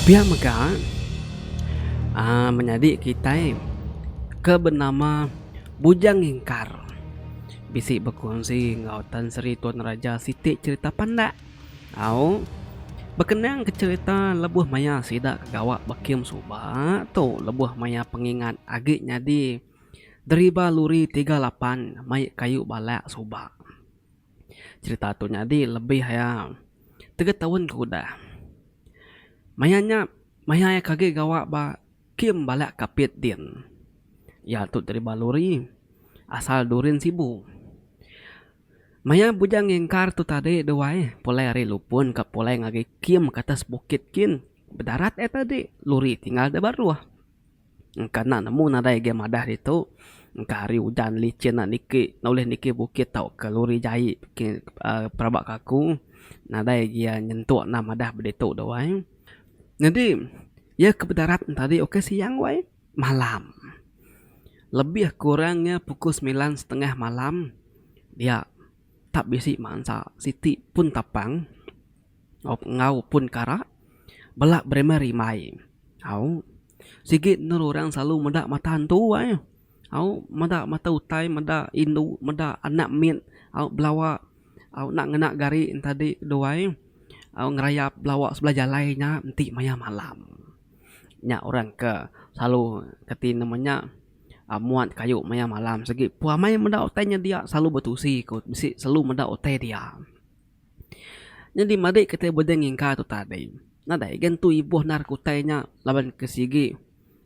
Pia mega, menyadi kitai ke benama Bujang Ngingkar bisi bekunsi enggau Tan Sri Tun Raja siti cherita pandak tau bekenang ke cherita lebuh maya sida ke gawa ba kem suba tu lebuh maya pengingat agi nyadi deriba luri tiga lapan mai kayu balak suba. Cherita tu nyadi lebih aya tiga taun ke udah. Maya nya maya iya ke agi gawa ba kem bala Kapit din. Iya tu dariba Luri asal Durin Sibu. Maya Bujang Ngingkar tu tadi duai pulai ari Lupun ka pulai ngagi kem ka atas bukit kin bedarat iya tadi Luri tinggal da baruh. Engka enda nemu nadai agei madah ditu. Engka hari ujan licin enda niki enda ulih niki bukit tauka lori jai ke uhh perabak kaku. Nadai agi iya nyentuk enda madah ba ditu tu ai. Nyadi iya ke bedarat ne tadi ukai siang wai, malam. Lebih kurang iya pukul semilan setengah malam dia tak bisi mansa siti pun tapang. Enggau pun kara bela berimah rimai au sigi endur orang selalu meda mata entu ai au meda mata utai meda indu meda anak mit au belawa au enda ngena gari enta di duai au ngerayap belawa sebelah jalai nya enti maya malam. Nya orang ke selalu reti nama nya au muat kayu maya malam sigi pun amai meda utai nya dia selalu betusi ku bisi selalu meda utai dia. Nyadi madik kitai berding nyingka tu tadi nadai ga entu ibuh nari kutai nya laban ke sigi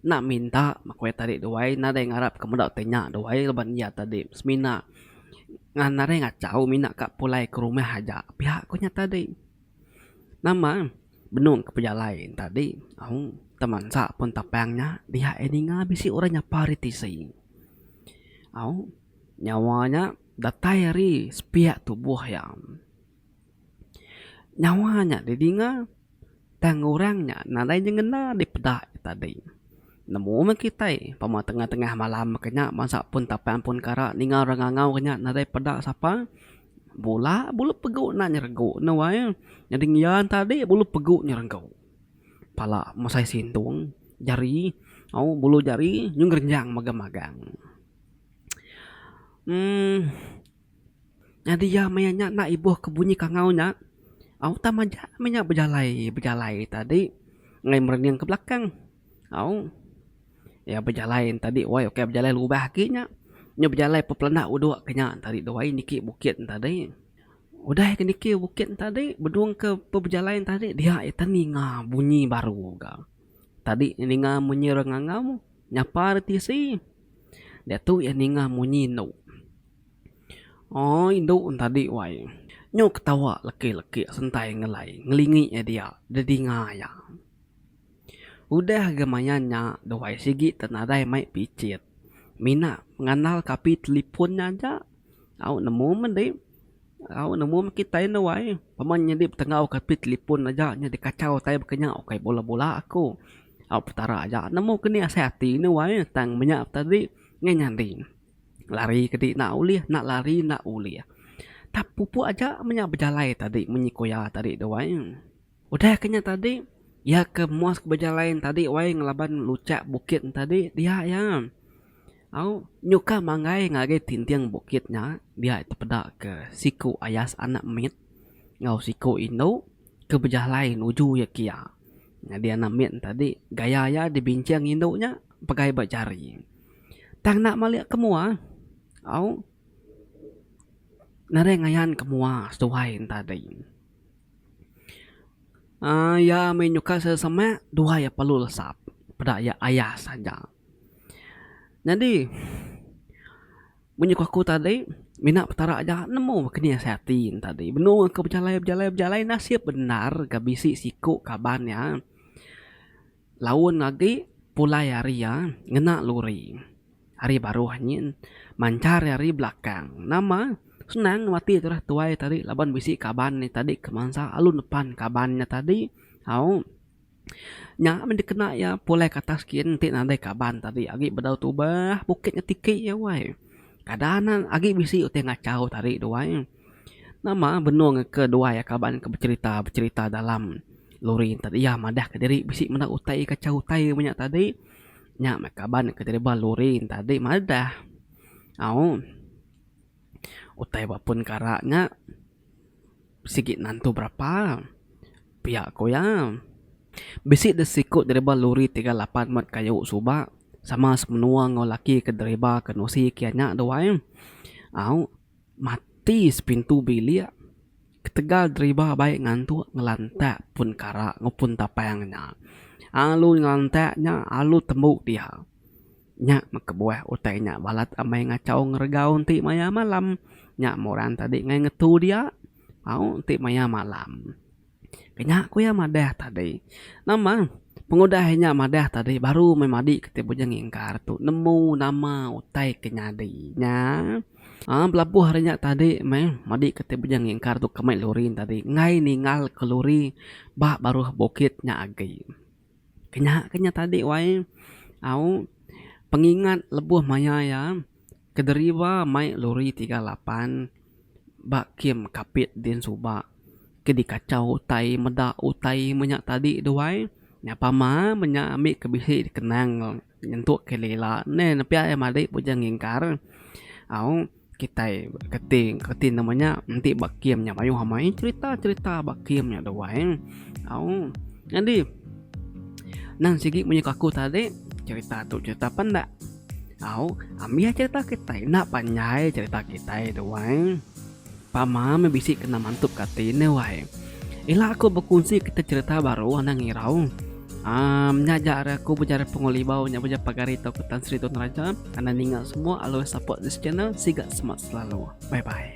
enda minta ku iya tadi duai nadai ngarap ke meda tai nya duai laban iya tadi semina ngan nadai ngachau mina ka pulai ke rumah aja pia ku nya tadi nama benung ke pejalai tadi au temansa pun tapang nya dia iya ninga bisi orang nyapa ari tisi au nyawa nya Datai ari sepiak tubuh iya. Nyawa nya didinga tang orang nya nadai nyengena dipeda iya tadi. Nemu meh kitai pemau tengah-tengah malam baka nya bansa pun tapai ampun kara ninga orang ngangau ke nya nadai peda sapa. Bula bulu pegu enda nyeregu ne wai. Nyadi ngian tadi bulu pegu nyeregu. Pala mesai sindung, jari, au bulu jari nyung ngerenjang magang-magang. uhh nyadi iya maya nya enda ibuh ke bunyi kangau nya au utai majak mih nya bejalai bejalai tadi meh merening ke belakang au iya bejalai tadi wai ukai bejalai lubah agi nya nyau bejalai pepelenda udok ke nya tadi wai niki bukit tadi udah ke niki bukit tadi bedung ke bejalai tadi dia ita ninga bunyi baru ga tadi ninga munyi orang ngangau nyapa ri tisi. Diatu iya ninga munyi indu. Ooh indu entadi wai. Nyu ketawa leki-leki sentai ngelai ngelingi iya dia dedinga iya. Udah ga maya nya duai sigi te nadai mai picit. Mina ngandal kapi telipon nya aja au nemu mende. Au nemu meh kitai enda wai. Pemain nyadi betenggau kapi telipon aja nya dikachau tai bakanya ukai bola-bola aku. Au Petara aja nemu ke ni asai ati ne wai tang menya peda di ngai nyadi. Lari ke di enda ulih enda lari enda ulih. Tap pupuk aja menya bejalai tadi munyi ku iya tadi tu wai. Udah ke nya tadi iya ke mos bejalai tadi wai ngelaban luchak bukit tadi dia iya. Au, nyuka manggai ngagai tinting bukit nya dia tepeda ke siku ayas anak mit enggau siku indu ke bejalai nuju iya kia. Nyadi anak mit tadi gaya iya dibincang indu nya pegai ba jari. Tang enda malik ke mua. Au, nadai ngayan ke mua seduai tadi. Aaa, iya meh nyuka semak dua iya perlu lesap peda iya ayas aja. Nyadi munyi ku aku tadi mina petara aja nemu ke nya isi ati ne tadi benung aku bejalai bejalai bejalai nasip bendar ga bisi siku kaban iya laun agi pulai ari iya ngena lori ari baruh nyin manchar iya ari belakang nama senang matik turah tuai tadi laban bisi kaban iya tadi ke mansa lalu nepan kaban iya tadi au. Nya meh dikena iya pulai ke atas gin enti nadai kaban tadi agi bedau tubah bukit ngan tiki iya wai. Kada ne agi bisi utih ngachau ti ari duai. Nama benung ke duai iya kaban ke becerita becerita dalam lori nta iya madah ke diri bisi menda utai kachau utai meh nya tadi. Nya meh kaban ke diri ba lori tadi madah au. Utai ba pun kara nya sigi nantu berapa pia ku iya. Bisi deh siku deriba lori tiga lapan mat kayu suba sama semenua enggau laki ke deriba ke nusi kia nya tu ai au mati sepintu bilik ketegal deriba bai ngantu ngelantak pun kara enggau pun tapang nya. Alu ngelantak nya alu tembu dia. Nya meh kebuah utai nya balat amai ngachau ngeregau enti maya malam. Nya meh orang tadi ngai ngetu dia au enti maya malam. Kenya ku iya madah tadi. Nama pengudah inya madah tadi baru meh madi ke ti bujeng ingkar tu nemu nama utai ke nyadi nya aaa belabuh ari nya tadi meh madi ke ti bujeng ingkar tu ke meh lori tadi ngai ningal ke lori ba baruh bukit nya agi. Kena ke nya tadi wai au pengingat lebuh maya iya ke deriva mai lori tiga lapan ba kem Kapit din suba ke dikachau utai meda utai menya tadi tu wai nyapa ma menya ami ke bisi dikenang. Nyentuk ke lila ne nepia iya madik bujang ngingkar au kitai keti keti nama nya enti ba kem nya mayuh amai cerita cerita ba kem nya duai au nyadi nang sigi munyi ka aku tadi cerita tu cerita penda au ambi cerita kitai enda panjai cerita kitai duai. Pama meh bisi kena mantup ke ati ne wai. Ila aku bekunsi kita cerita baru anang ngirau. Amm nya ja ari aku bejaran pengolibau nya beja pagari tauka Tan Sri Tun Raja. Anang ninga semua always support this channel siga semat selalu. Bye bye.